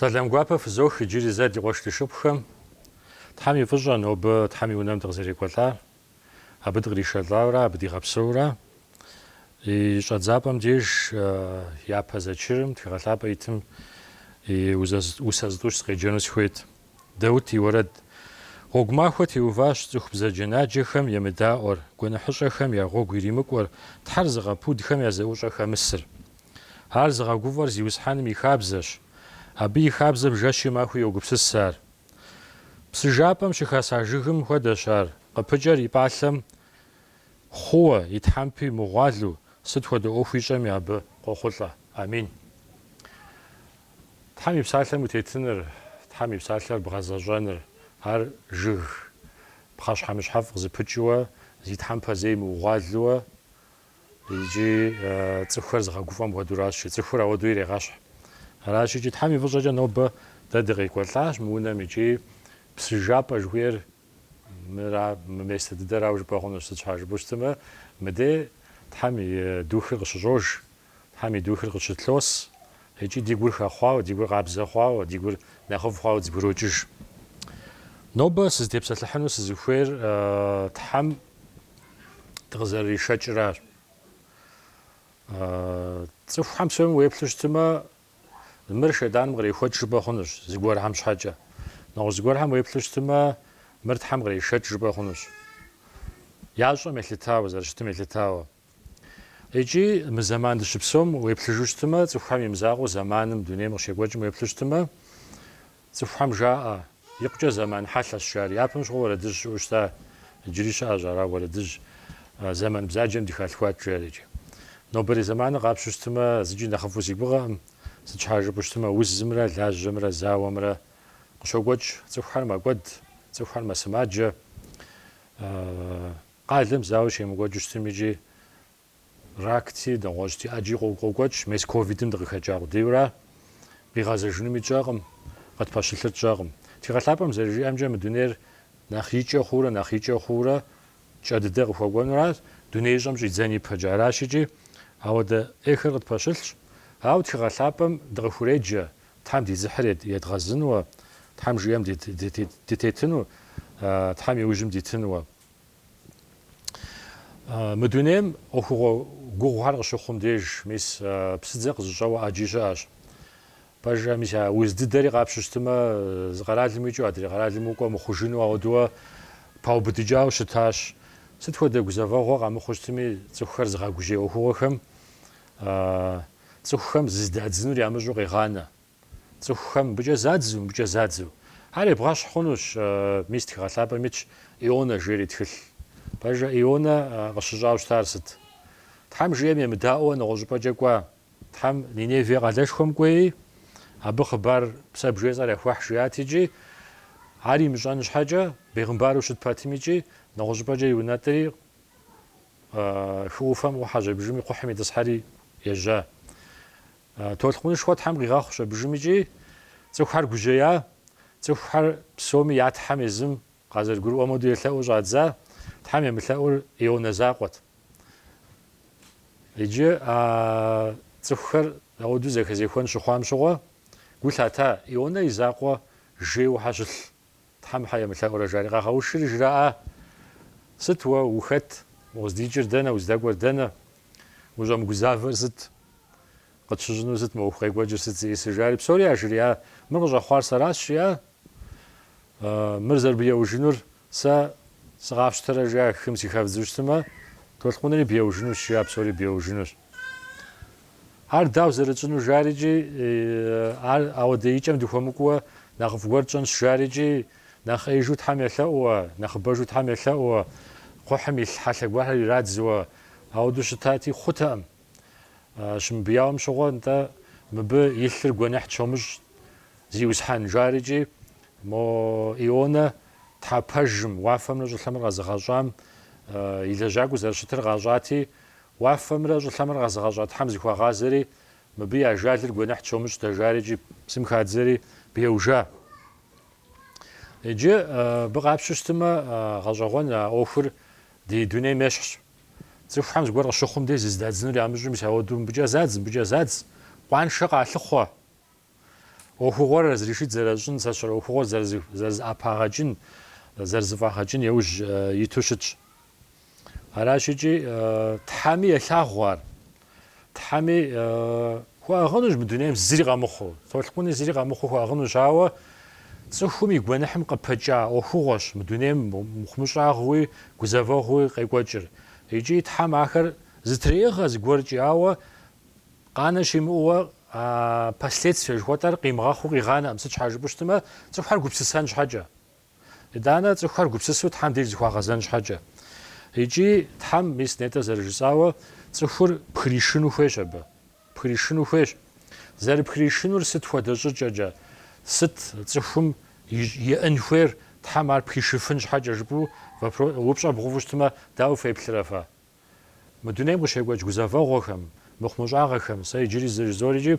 Сэлам гуапэ фызох иджыри зэ ди къуэш ди шыпхъухэм. Тхьэм и фӏыщӏэ нобэ Тхьэм и унэм дыкъызэрекӏуэлӏар, абы дыкъришэлӏауэрэ, абы дигъэпсэурэ. И щӏэдзапӏэм деж япэ зэчырым, тхыгъэ лъапӏэ итым и усэ зытӏущ сыкъеджэну сыхуейт. Даут и уэрэд. Гъуэгу махуэ теуващ цӏыху бзаджэнаджэхэм емыдаӏуэр, гуэныхьыщӏэхэм я гъуэгу иримыкӏуэр, Тхьэр зыгъэпудхэм я зэӏущӏэ хэмысыр. Ар зыгъэгуфӏэр Зиусхьэным и хабзэщ. Абы и хабзэм жэщи махуи йогупсыс ар. Псы жапӏэм щыхаса жыгым хуэдэщ ар, къыпыкӏэр и пӏалъэм хъууэ, и тхьэмпи мыгъуалэу, сыт хуэдэ ӏуэху ищӏэми абы къохъулӏэ. Амин. Тхьэм и Псалъэм утетыныр, Тхьэм и Псалъэр бгъэзэщӏэныр, ар жыг, пхъэщхьэмыщхьэфӏ къызыпыкӏыуэ, зи тхьэмпэ зэи мыгъуалэу икӏи цӏыхухэр зыгъэгуфӏэм хуэдуращи, цӏыхур ауэдэу ирегъэщхь. Аращ икӏи Тхьэм и фӏыщӏэкӏэ нобэ дэ дыкъекӏуэлӏащ мы унэм икӏи псы жапӏэ жыхуиӏэр мыра, мы место дыдэрауэ жыпӏэ хъунущ, сыт щхьа жыпӏэу щытымэ, мыдей Тхьэм и Духыр къыщыщӏож Тхьэм и духыр къыщытлъоӏэс икӏи ди гур хэхъуауэ, ди гур къабзэ хъуауэ, ди гур нэхъыфӏ хъуауэ дызэбгрокӏыж. Нобэ сызытепсэлъыхьыну сызыхуейр Тхьэм дыкъызэрыришэкӏыращ. Цӏыхухэм псоми уеплъу щытымэ, мыр шейтӏаным кърехуэкӏ жыпӏэ хъунущ, зыгуэрхэм щхьэкӏэ. Нэгъуэщӏ зыгуэрхэм уеплъу щытымэ, мыр Тхьэм кърешэкӏ жыпӏэ хъунущ, ящӏэм елъытауэ, зэрыщытым елъытауэ. Икӏи мы зэман дыщыпсэум уеплъыжу щытымэ, цӏыхухэм имызакъуэу зэманым, дунейм къыщекӏуэкӏым уеплъу щытымэ, цӏыхухэм жаӏэ, икъукӏэ зэман хьэлъэщ жари. Япэм щыгъуэ уэрэдыжь щыӏэу щыта, иджыри щыӏэщ ара уэрэдыжь, зэман бзаджэм дыхалъхуат жари. Икӏи нобэрей зэманыр къапщтэу щытымэ, зыкӏи нэхъыфӏу си гугъэкъым, сыт щхьа жыпӏэу щытымэ, узымрэ лажьэмрэ зауэмрэ къыщокӏуэкӏ, цӏыхухэр мэкӏуэд, цӏыхухэр мэсымаджэ. Къалэм зауэ щемыкӏуэкӏыу щытым икӏи ракти, нэгъуэщӏти ӏэджи къокӏуэкӏ, мес ковидым дыкъыхэкӏа къудейура, къигъэзэжынуми тщӏэкъым, къытпэщылъыр тщӏэкъым. Тхыгъэлъапӏэм зэрыжиӏэмкӏэ, мы дунейр нэхъ икӏэ хъуурэ нэхъ икӏэ хъуурэ кӏэ дыдэ къыхуэкӏуэнуращ, дунеищӏэм щӏидзэн ипэкӏэ аращ икӏи, ауэдэ ӏейхэр къытпэщылъщ. Ауэ тхыгъэлъапӏэм дыкъыхуреджэ Тхьэм ди дзыхьыр едгъэзынуэ, Тхьэм жиӏэм дытетыну, Тхьэм и ужьым дитынуэ. Мы дунейм ӏуэхугъуэ гугъухэр къыщыхъум деж, мис псыдзэ къызыщӏэуэ ӏэджи щыӏэщ. Пэжрэ, мис а уз дыдэри къапщу щытымэ, зы къэралым уикӏыу адрей къэралым укӏуэ мыхъужыну ауэдууэ паубыдыкӏауэ щытащ. Сыт хуэдэ гузэвэгъуэ къамыхъуу щытми, цӏыхухэр зыгъэгужьей ӏуэхугъуэхэм цӏыхухэм зыздадзынур ямыщӏу къегъанэ. Цӏыхухэм мыбыкӏэ задзу, мыбыкӏэ задзу. Ар ебгъэщхь хъунущ, мис Тхыгъэ Лъапӏэм итщ Ионэ жери тхылъ. Пэжэ, Ионэ къыщыщӏауэ щытар сыт? Тхьэм жиӏэм емыдаӏуэу нэгъуэщӏыпӏэкӏэ кӏуа. Тхьэм Ниневие къалэшхуэм кӏуеи, абы хъыбар сэ бжесӏэр яхуэхь жиӏат икӏи, ар имыщӏэн щхьэкӏэ, бегъымбару щыт пэтми икӏи, нэгъуэщӏыпӏэкӏэ иунэтӏри, хы ӏуфэм ӏухьэщ абыжыми кхъухьым итӏысхьэри ежьа. Толъкъунышхуэ Тхьэм къигъэхъущ абыжым икӏи цӏыхухэр гужьея, цӏыхухэр псоми я Тхьэм езым къазэрыгурыӏуэм хуэду елъэӏуу щӏадза, Тхьэм емылъэӏур Ионэ закъуэт. Иджы а цӏыхухэр ауэду зэхэзехуэн щыхъуам щыгъуэ гу лъата Ионэ и закъуэ жейуэ хьэ щылъ Тхьэм хьэ емылъэӏурэ, жари, къагъэушри, жраӏа, Сыт уэ, ухэт? Укъыздикӏыр дэнэ, уздэкӏуэр дэнэ? Ущӏэмыгузавэр сыт? Къытщыщӏынур сыт, мы ӏуэху къекӏуэкӏыр сыт зиӏысыр? жари, псори яжриӏа, Мыр къыщӏэхъуар сэращ, жиӏа, Мыр зэрыбыеужынур сэ сыкъафщтэрэ, жиӏа, хым сыхэвдзу щытымэ, толъкъунри беужынущ, жиӏа, псори беужынущ. Ар дауэ зэрытщӏыну жарикӏи, ар ауэдэ икӏэм дыхуэмыкӏуэ нэхъыфӏ гуэр тщӏэнщ жарикӏи, нэхъ ӏеижу Тхьэм елъэӏууэ, нэхъыбэжу Тхьэм елъэӏууэ, кхъухьым илъ хьэлъэ гуэрхэр ирадзууэ, ауэдэу щытати, хъутэкъым. Щымыбияуэм щыгъуэ, нтӏэ, мыбы и лъыр гуэныхь тщомыщӏ, Зиусхьэн, жарикӏи, мо Ионэ Тхьэ пэжым, уафэмрэ щӏылъэмрэ къэзыгъэщӏам и лэжьакӏуэ зэрыщытыр къащӏати, Уафэмрэ щӏылъэмрэ къэзыгъэщӏа Тхьэм зыхуагъазэри, мыбы и ажалыр гуэныхь тщомыщӏ дэ, жарикӏи псым хадзэри беужа. Иджы абы къапщу щытымэ, гъэщӏэгъуэн а ӏуэхур ди дунейм ещхьщ. Цӏыхухэм зыгуэр къыщыхъум дей зыздадзынур ямыщӏу мис ауэду мыбыкӏэ задз, мыбыкӏэ задз, къуаншэ къалъыхъуэ! ӏуэхугъуэр разрешить зэращӏын, сэ сщӏэрэ ӏуэхугъуэр зэрызыӏэпагъэкӏын, зэрызыфӏагъэкӏын яужь иту щытщ. Аращ икӏи Тхьэми елъагъу ар. Тхьэми хуэӏыгъынущ мы дунейм зыри къэмыхъуу, толъкъуни зыри къэмыхъуу хуэӏыгъынущ, ауэ цӏыхум и гуэныхьым къыпэкӏа ӏуэхугъуэщ мы дунейм мыхъумыщӏагъуи гузэвэгъуи къекӏуэкӏыр. Икӏи Тхьэм ахэр зытреӏыгъэ зыгуэркӏи, ауэ Къанэ щимыӏууэ а последствие жыхуэтӏэр къимыгъэхъуу къигъанэкъым, сыт щхьа жыпӏэу щытмэ, цӏыхухэр гупсысэн щхьэкӏэ. Итӏанэ цӏыхухэр гупсысу Тхьэм деж зыхуагъэзэн щхьэкӏэ. Икӏи Тхьэм, мис нетӏэ зэрыжысӏауэ, цӏыхур пхришыну хуейщ абы. Пхришыну хуейщ. Зэрыпхришынур сыт хуэдэ щӏыкӏэкӏэ, сыт цӏыхум иӏэн хуейр Тхьэм ар пхишыфын щхьэкӏэ жыпӏэу вопро-, упщӏэ бгъэуву щытмэ, дауэ феплърэ фэ? Мы дунейм къыщекӏуэкӏ гузэвэгъуэхэм, мыхъумыщӏагъэхэм сэ иджыри зэ жызоӏэри икӏи,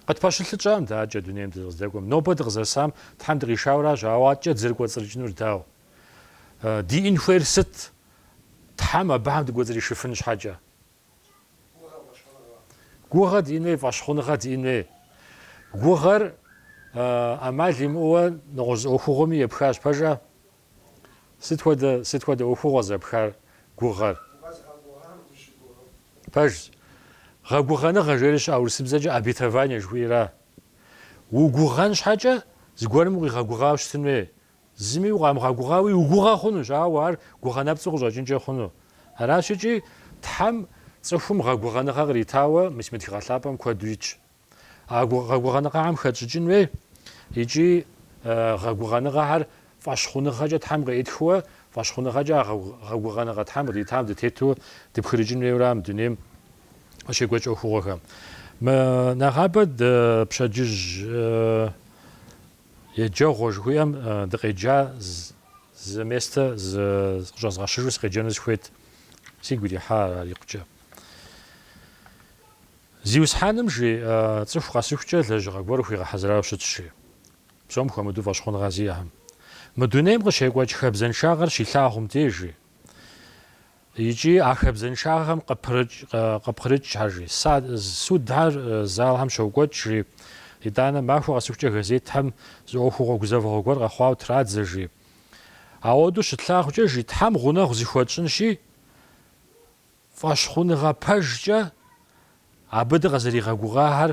къытпэщылъыкӏам адэкӏэ дунейм дыкъыздэкӏуэм. Нобэ дыкъызэсам Тхьэм дыкъишауэ аращ, ауэ адэкӏэ дызэрыкӏуэцӏрыкӏынур дауэ? Диӏэн хуейр сыт? Тхьэм абыхэм дыкӏуэцӏришыфын щхьэкӏэ. Гугъэ диӏэн хуей, фӏэщхъуныгъэ диӏэн хуей. Гугъэр ӏэмал имыӏэуэ нэгъуэщӏ зы ӏуэхугъуэми епхащ. Пэжа? Сыт хуэдэ, сыт хуэдэ ӏуэхугъуэ зэпхар гугъэр? Укъэзыгъэгугъам дыщыгугъыу. Пэжщ. Гъэгугъэныгъэ жери щыӏэ урысыбзэкӏэ обетование жыхуиӏэра? Угугъэн щхьэкӏэ, зыгуэрым укъигъэгугъауэ щытын хуей. Зыми укъамыгъэгугъауи угугъэ хъунущ, ауэ ар гугъэ нэпцӏу къыщӏэкӏынкӏэ хъуну. Аращ икӏи Тхьэм цӏыхум гъэгугъэныгъэ къритауэ мис мы тхыгъэ лъапӏэм куэду итщ. А гъэгугъэныгъэхэм хэтщӏыкӏын хуей икӏи гъэгугъэныгъэхэр фӏэщхъуныгъэкӏэ Тхьэм къеӏытхыуэ, фӏэщхъуныгъэкӏэ а гъэгугъэныгъэ Тхьэм къыдитам дытету дыпхырыкӏын хуейуэ ара мы дунейм къыщекӏуэкӏ ӏуэхугъуэхэм. Мы нэгъабэр дэ пщэдджыжь еджэгъуэ жыхуиӏэм дыкъеджа зы местэ къыщӏэзгъэщыжу сыкъеджэну сыхуейт, сигу ирихьа ар икъукӏэ. Зиусхьэным жи цӏыху къэсыхукӏэ лэжьыгъэ гуэр хуигъэхьэзырауэ щыт жи, псом хуэмыдэу фӏэщхъуныгъэ зиӏэхэм мы дунейм къыщекӏуэкӏ хабзэншагъэр щилъагъум деж жи икӏи а хабзэншагъэхэм къыпкърыкӏ жи, судхэр залхэм щокӏуэкӏ жи, итӏанэ махуэ къэсыхукӏэ газетхэм зы ӏуэхугъуэ гузэвэгъуэ гуэр къэхъуауэ традзэ жи, ауэдэу щытлъагъукӏэ жи, Тхьэм гъунэгъу зыхуэтщӏынщи, Фӏэщхъуныгъэ пэжкӏэ абы дыкъызэригъэгугъахэр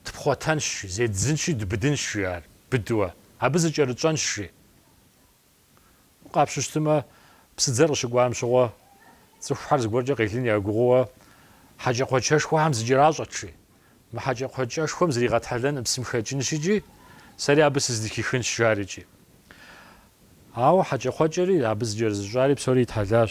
тпхъуэтэнщ, зеддзынщи, дубыдынщ жи ар, быдуэ, абы зыкӏэрытщӏэнщ жи. Къапщтэу щытмэ, псыдзэр къыщыкӏуам щыгъуэ, цӏыхухэр зыгуэркӏэ къелын ягугъууэ хьэкӏэкхъуэкӏэшхуэхэм зыкӏэращӏэт жи. Мы хьэкӏэкхъуэкӏэшхуэм зригъэтхьэлэн псым хэкӏынщ икӏи, сэри абы сыздыхихынщ жари икӏи. Ауэ хьэкӏэкхъуэкӏэри, абы зыкӏэрызыщӏари псори итхьэлащ.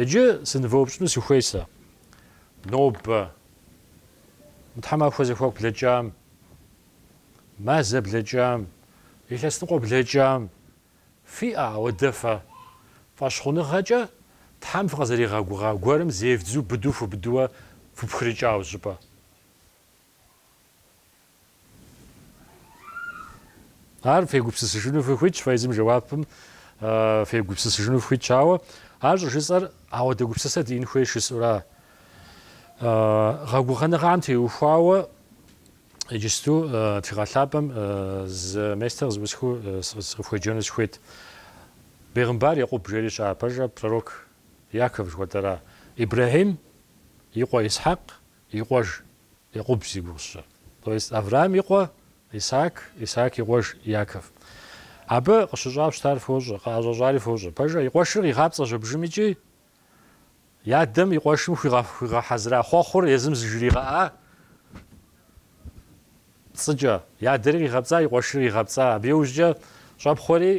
Иджы сынывэупщӏыну сыхуей сэ. Нобэ. Мы тхьэмахуэ зэхуаку блэкӏам, мазэ блэкӏам, илъэсныкъуэ блэкӏам фиӏэ ауэдэ фэ? Фӏэщхъуныгъэкӏэ Тхьэм фыкъызэригъэгугъа гуэрым зевдзу быду фубыдууэ фыпхрыкӏауэ щӏыпӏэ? Ар фегупсысыжыну фыхуитщ, фэ езым жэуапым фегупсысыжыну фыхуитщ, ауэ, ар щӏыжысӏэр ауэдэ гупсысэ диӏэн хуей жысӏэура? Гъэгугъэныгъэм теухуауэ иджысту Тхыгъэ Лъапӏэм зы местэ зэӏусхыу сыкъыфхуеджэну сыхуейт. Бегъымбар Екъуб жери щыӏэ пэжэ, пророк Яков жыхуэтӏэра? Ибрэхьим и къуэ Исхьэкъ и къуэж Екъуб зи гугъу сщӏыр. То есть Авраам и къуэ Исаак, Исаак и къуэж Яков. Абы къыщыщӏауэ щытар фощӏэ, къыӏэщӏэщӏари фощӏэ. Пэжэ, и къуэшыр къигъапцӏэщ абжым икӏи и адэм и къуэшым хуигъэхьэзыра хъуэхъур езым зыжригъэӏа пцӏыкӏэ. И адэри къигъэпцӏа, и къуэшри къигъэпцӏа. Абы иужькӏэ щӏэпхъуэри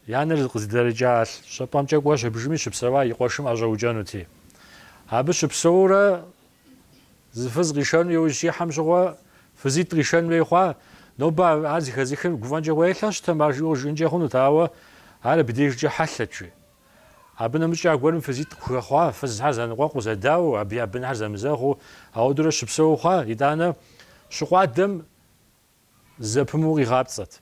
И анэр къыздэрыкӏа щӏыпӏэмкӏэ кӏуэщ абжми щыпсэуа и къуэшым ӏэщӏэукӏэнути. Абы щыпсэурэ зы фыз къишэну иужь щихьэм щыгъуэ фызитӏ къишэн хуей хъуа? Нобэ ар зыхэзыхым гуфӏэнкӏэ гуелъэ щытым ар жиӏэу жиӏэнкӏэ хъунут, ауэ ар абдежкӏэ хьэлъэт икӏи. Абы нэмыщӏкӏэ аргуэрым фызитӏ къыхуэхъуа, фызхэр зэныкъуэкъуу зэдауэу, абы я бынхэр зэмызэгъыу, ауэдурэ щыпсэуу хъуа? Итӏанэ, щыкъуадэм Зэпымыу къигъапцӏэт.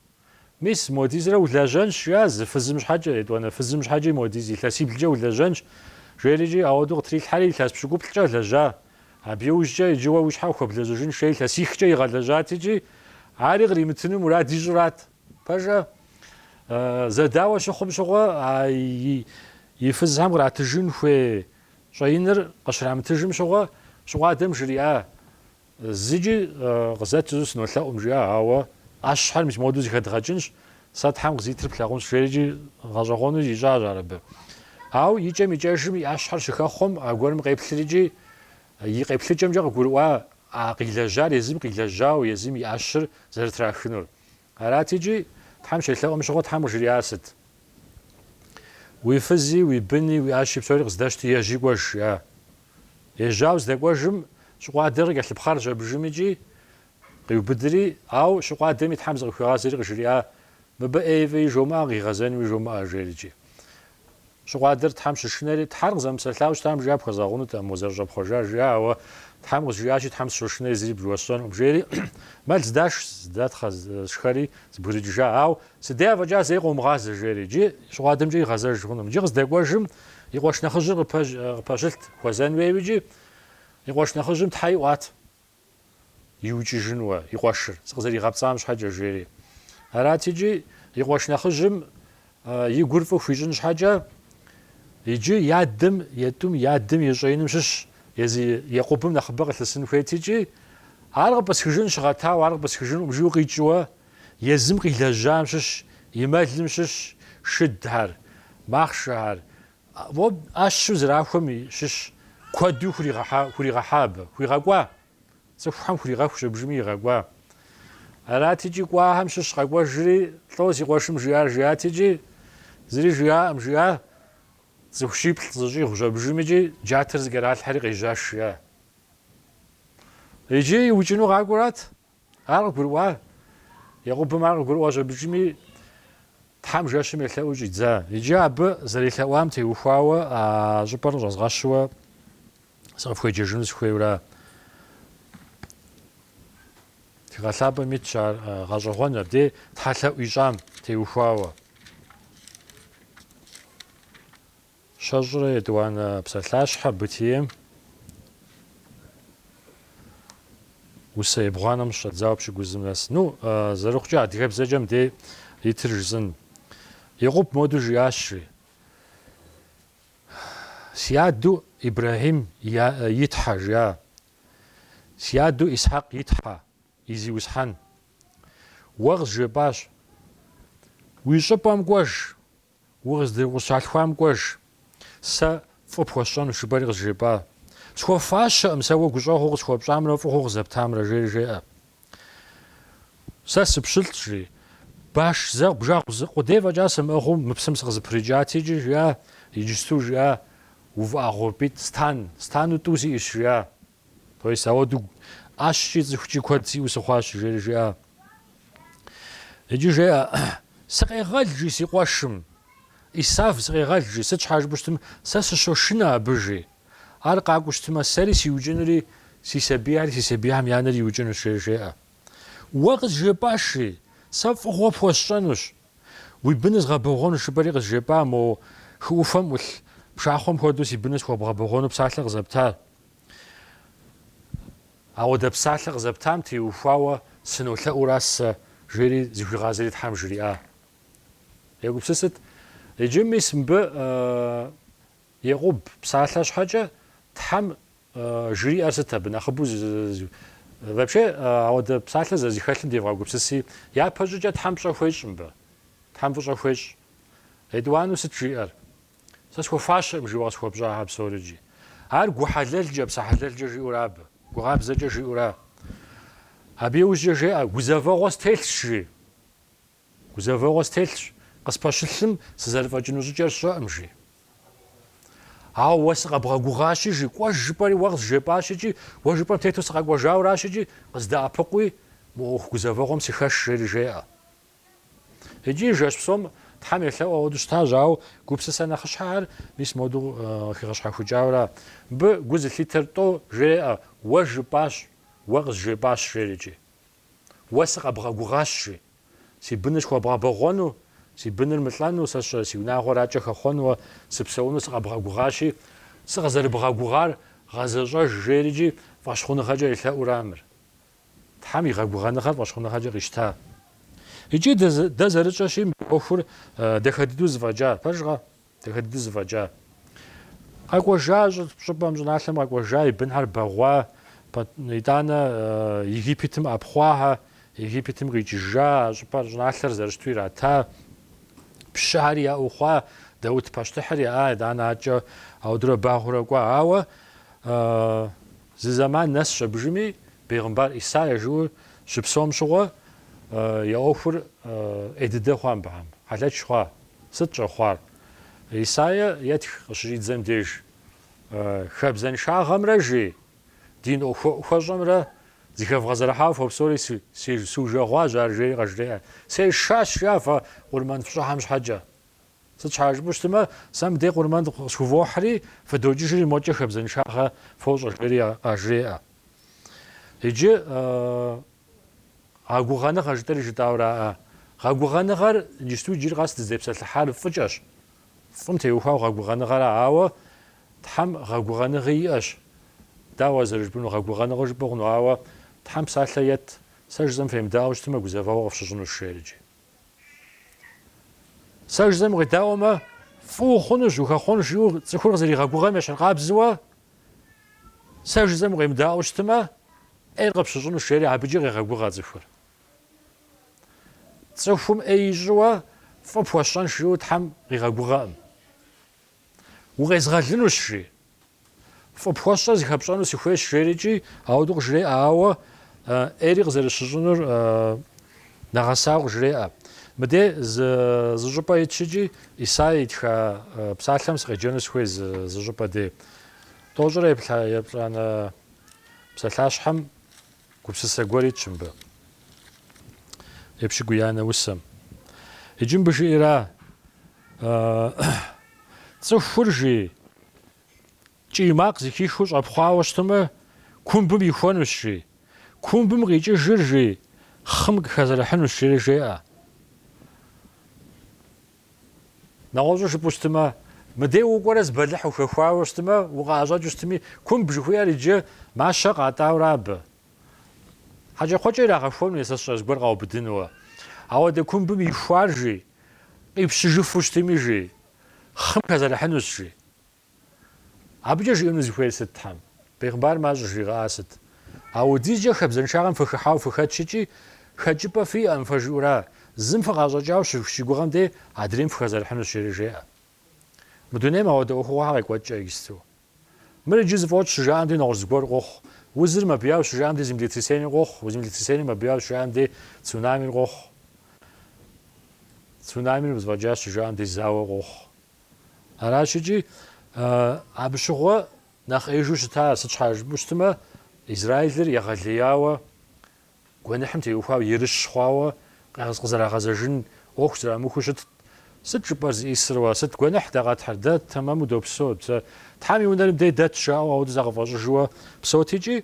Мис, модизрэ улэжьэнщ, жиӏащ, зы фызым щхьэкӏэ, етӏуанэ фызым щхьэкӏи модиз илъэсиблкӏэ улэжьэнщ, жери икӏи, ауэдэу къытрилъхьэри, илъэс пщыкӏуплӏкӏэ лэжьа. Абы иужькӏэ иджы уэ уи щхьэ хуэблэжьыжын хуей илъэсихкӏэ игъэлэжьат икӏи, ари къримытыну мурад ищӏырат. Пэжэ? Зэдауэ щыхъум щыгъуэ, и фызхэм къратыжын хуей щӏэиныр къыщрамытыжым щыгъуэ, щыкъуадэм жриӏа, Зыкӏи къызэту сынолъэӏум, жиӏа, ауэ ӏэщхьэр мис моду зыхэдгъэкӏынщ, сэ Тхьэм къызитыр плъагъунщ, жери икӏи гъэщӏэгъуэну ищӏащ ар абы. Ауэ икӏэм икӏэжым и ӏэщхьэр щыхэхъуэм, аргуэрым къеплъри икӏи, и къеплъыкӏэмкӏэ къыгурыӏуа къилэжьар езым къилэжьауэ, езым и ӏэщыр зэрытрахынур. Арати икӏи, Тхьэм щелъэӏум щыгъуэ Тхьэм къыжриӏар сыт? Уи фызи, уи быни, уи ӏэщи псори къыздэщти, ежьи кӏуэж, жиӏа. Ежьауэ здэкӏуэжым, щыкъуадэр къыкӏэлъыпхъэрщ абжым икӏи, къиубыдри, ауэ щыкъуадэми Тхьэм зыкъыхуигъазэри къыжриӏа, Мыбы ӏейи фӏыи жумыӏэ, къигъэзэнуи жумыӏэ, жери икӏи. Щыкъуадэр Тхьэм щышынэри, Тхьэр къызэмыпсэлъауэ щытам жиӏа пхуэзгъэгъунутэӏым узэрыщӏэпхъуэжар жиӏа, ауэ Тхьэм къызжиӏащи, Тхьэм сыщошынэри зыри уэсщӏэнукъым, жери, мэл здаш, здатхъэ шхэри зэбгрыкӏыжа, ауэ си дей афӏэкӏа зэи къыумыгъазэ, жери, иджы Щыкъуадэмкӏэ игъэзэж хъунукъым. Иджы къыздэкӏуэжым, и къуэш нэхъыжьыр къыпэщылът, хуэзэн хуейуэ икӏи, и къуэш нэхъыжьым Тхьэ иӏуат. иукӏыжынуэ и къуэшыр, сыкъызэригъэпцӏам щхьэкӏэ, жери. Арати, икӏи и къуэш нэхъыжьым и гур фӏы хуищӏын щхьэкӏэ, иджы я адэм, я тӏум я адэм и щӏэиным щыщ езы Екъубым нэхъыбэ къылъысын хуейт икӏи, Ар къыпӏысхыжын щыгъэтауэ, ар къыпӏысхыжынкъым, жиӏэу къикӏыуэ, езым къилэжьам щыщ, и мэлым щыщ шыдхэр, махъшэхэр, ӏэщу зэрахуэм щыщ куэду хуригъэхьа абы, хуигъэкӏуа? Цӏыхухэм хуригъэху щыбжми игъэкӏуа. Арати икӏи кӏуахэм щыщ къэкӏуэжри, лӏо си къуэшым жиӏар жиӏати икӏи, зыри жиӏаӏым, жиӏа. Цӏыху щиплӏ зыщӏигъу щӏэбжым икӏи джатэр зыкӏэралъхьэри къежьащ жиӏа. Иджы иукӏыну къакӏуэрат, Ар къыгурыӏуа? Екъубым ар къыгурыӏуа щӏэбыкӏыми, Тхьэм жэщым елъэӏуу щӏидза. Иджы абы зэрелъэӏуам теухуауэ а щӏыпӏэр къыщӏэзгъэщуэ сыкъыфхуеджэжыну сыхуейура? Тхыгъэ Лъапӏэм итщ ар гъэщӏэгъуэн, абдей тхьэлъэӏу ищӏам теухуауэ. Щэщӏрэ етӏуанэ псалъащхьэ бытием усэ ебгъуанэм щыщӏэдзауэ пщыкӏузым нэс. Ну, зэрыхъукӏэ адыгэбзэкӏэ мыдей итыр жысӏэн. Екъуб моду жиӏащри, Си адэу Ибрахьим и Тхьэ, жиӏа, си адэу Исхьэкъ и Тхьэ, и Зиусхьэн. Уэ къызжепӏащ, Уи щӏыпӏэм кӏуэж. Укъызд-, укъыщалъхуам кӏуэж, сэ фӏы пхуэсщӏэнущ, жыпӏэри къызжепӏа. Схуэфащэкъым сэ уэ гущӏэгъуу къысхуэпщӏамрэ фӏыгъуу къызэптамрэ, жери жеӏэ. Сэ сыпщылӏщ, жи. Баш зы бжэгъу къудей фӏэкӏа сымыӏыгъыу мы псым сыкъызэпрыкӏати икӏи жиӏа, иджысту жиӏа, увыӏэгъуэпӏитӏ стан, стану тӏу сиӏэщ, жиӏа. То есть, ауэду ӏэщкӏи цӏыхукӏи куэд сиӏэу сыхъуащ, жери жиӏа. Иджы жеӏэ, Сыкъегъэл, жи, си къуэшым. Исав, сыкъегъэл, жи, сыт щхьа жыпӏэу щытмэ, сэ сыщошынэ абы, жи. Ар къакӏуэу щытмэ, сэри сиукӏынури, си сабийхьэри си сабийхьэм я анэри иукӏынущ, жери жеӏэ. Уэ къызжепӏащ, жи, сэ фӏыгъуэ пхуэсщӏэнущ. Уи быныр згъэбэгъуэнущ, жыпӏэри къызжепӏа мо хы ӏуфэм ӏулъ пшахъуэм хуэдэу си быныр схуэбгъэбэгъуэну псалъэ къызэпта. Ауэдэ псалъэ къызэптам теухуауэ сынолъэӏура сэ? жери зыхуигъазэри Тхьэм жриӏа? Егупсысыт. Иджы мис мыбы Екъуб псалъэ щхьэкӏэ Тхьэм жриӏэр сыт абы нэхъыбэу? Вообще, ауэдэ псалъэ зэрызыхэлъым девгъэгупсыси, япэщӏыкӏэ Тхьэм пщӏэ хуещӏ мыбы. Тхьэм фӏыщӏэ хуещӏ. Етӏуанэу сыт жиӏэр? Сэ схуэфащэӏым жиӏэу къысхуэпщӏахьэ псори икӏи. Ар гу хьэлэлкӏэ, псэ хьэлэлкӏэ жиӏэура абы, гугъабзэкӏэ жиӏэура. Абы иужькӏэ жеӏэ, гузэвэгъуэ стелъщ, жи. Гузэвэгъуэ стелъщ, къыспэщылъым, сызэрыфӏэкӏыну щӏыкӏэр сщӏэӏым, жи. Ауэ уэ сыкъэбгъэгугъащи, жи, кӏуэж жыпӏэри уэ къызжепӏащ икӏи, уэ жыпӏэм тету сыкъэкӏуэжауращ икӏи, къыздэӏэпыкъуи, мы ӏуэху гузэвэгъуэм сыхэш, жери жеӏэ. Икӏи жэщ псом Тхьэм елъэӏу ауэду щытащ, ауэ гупсысэ нэхъыщхьэхэр мис моду хигъэщхьэхукӏауэра. Мыбы гу зылъитэр тӏо жреӏэ, Уэ жыпӏащ, уэ къызжепӏащ, жери икӏи. Уэ сыкъэбгъэгугъащ, жи. Си быныр схуэбгъэбэгъуэну, си быныр мылӏэну, сэ сщӏэрэ си унагъуэр акӏэ хэхъуэнуэ, сыпсэуну сыкъэбгъэгугъащи, сыкъызэрыбгъэгугъар гъэзэщӏэж, жери икӏи, фӏэщхъуныгъэкӏэ елъэӏура мыр? Тхьэм и гъэгугъэныгъэр фӏэщхъуныгъэкӏэ къищта. Икӏи дэ зэрытщӏэщи, мы ӏуэхур дахэ дыдэу зыфӏэкӏа, пэжкъэ? Дахэ дыдэу зыфӏэкӏа. Къэкӏуэжа щӏыпӏэм, щӏыналъэм къэкӏуэжа, и бынхьэр бэгъуа, итӏанэ Египетым ӏэпхъуахьэ, Египетым къикӏыжа, а щӏыпӏэр, щӏыналъэр зэрыщыту ирата, пщыхьэри яӏэу хъуа, Даут пащтыхьыр яӏа, итӏанэ адэкӏэ аудурэ багъуурэ кӏуа. Ауэ. Зы зэман нэсщ абы иужьми, бегъымбар Исаия жыуэ щыпсэум щыгъуэ, я ӏуэхур ӏей дыдэ хъуа мыбыхьэм? Хьэлэч хъуа? Сыт щӏэхъуар? Исаия етх къыщыщӏидзэм деж, хабзэншагъэмрэ жи дин ӏуэху хуэщӏэмрэ зыхэвгъэзэрыхьауэ фопсэури сужэгъуащ ар жери къажреӏэ. Сешащ, жи, фэ къурмэн фщӏыхьэм щхьэкӏэ. Сыт щхьа жыпӏэу щытмэ, сэ мыдей къурмэн къысхувохьри, фыдокӏыжри, мокӏэ хабзэншагъэ фощӏэ, жери къажреӏэ. Иджы гъэгугъэныгъэ жытӏэри жытӏауэраӏэ. Гъэгугъэныгъэр иджыпсту иджыри къэс дызытепсэлъыхьар фӏыкӏэщ. Фӏым теухуауэ гъэгугъэныгъэра, ауэ Тхьэм гъэгугъэныгъи иӏэщ. Дауэ зэрыжыпӏэну, гъэгугъэныгъэу жыпӏэ хъуну, ауэ Тхьэм псалъэ ет, сэ жысӏэм фемыдаӏуэу щытмэ, гузэвэгъуэ къыфщыщӏынущ, жери икӏи. Сэ жызэм укъедаӏуэмэ, фӏы ухъунущ, ухэхъуэнщ, жиӏэу цӏыхур къызэригъэгугъэм ещхьыркъабзэуэ, сэ жызэм укъемыдаӏуэу щытмэ, ӏейр къыпщыщӏынущ, жери абыкӏэ къегъэгугъэ цӏыхур. Цӏыхум ӏей ищӏыуэ фӏы пхуэсщӏэнщ, жиӏэу Тхьэм къигъэгугъэӏым. Укъезгъэлынущ, жи. Фӏы пхуэсщӏэр зыхэпщӏэну сыхуейщ, жери икӏи ауэду къыжреӏэ, ауэ ӏейри къызэрыщыщӏынур нэгъэсауэ къыжреӏэ. Мыдей зы, зы щӏыпӏэ итщ икӏи, Исаия итха псалъэм сыкъеджэну сыхуей зы щӏыпӏэ дей. Тӏощӏрэ еплӏанэ псалъащхьэм Гупсысэ гуэр итщ мыбы. Епщыкӏуиянэ усэм. Иджы мыбы жиӏэра? Цӏыхур, жи, кӏий макъ зыхихыу щӏэпхъуауэ щытымэ, кумбым ихуэнущ, жи. Кумбым къикӏыжыр, жи, хъым къыхэзэрыхьынущ, жери жеӏэ. Нэгъуэщӏу жыпӏэу щытымэ, мыдей укӏуэрэ зы бэлыхь ухэхуауэ щытымэ, укъыӏэщӏэкӏыу щытыми, кумб жыхуиӏэр иджы мащэ къатӏауэра, абы хьэкӏэкхъуэкӏэ ирагъэхуэну е сэ сщӏэ зыгуэр къаубыдынууэ. Ауэдэ кумбым ихуар, жи, къипщыжыфу щытыми, жи, хъым хэзэрыхьынущ, жи. Абыкӏэ жиӏэну зыхуейр сыт Тхьэм? Бегъымбарым ар щӏыжригъэӏар сыт? Ауэдизкӏэ хабзэншагъэм фыхыхьауэ фыхэтщ икӏи, хэкӏыпӏэ фиӏэм фэ, жиӏэу ара, зым фыкъащӏэкӏауэ щыгугъэм дей адрейм фыхэзэрыхьынущ жери жеӏэ. Мы дунейм ауэдэ ӏуэхугъуэхьэ къекӏуэкӏкӏэ иджысту. Мыр иджы зыфӏокӏ щыжаӏэм дей нэгъуэщӏ зыгуэр къохъу, узыр мэбэяу щыжаӏэм дей землетрясениер къохъу, землетрясениер мэбэяу щыжаӏэм дей цунамир къохъу, цунамир зыфӏэкӏащ щыжаӏэм дей зауэ къохъу. Аращ икӏи, абы щыгъуэ нэхъ ӏеижу щыта, сыт щхьэ жыпӏэу щытмэ, Израилыр егъэлеяуэ, гуэныхьым теухуауэ, ерыщ хъуауэ къызэрагъэзэжын ӏуэху зэрамыхуэу щытт. Сыт жыпӏэр зыӏисыр уэ? Сыт гуэныхь дэ къэтхьыр? Дэ тэмэму допсэу, Тхьэм и унэри мыдей дэт, жаӏэу ауэду зыкъафӏэщӏыжууэ псэут икӏи,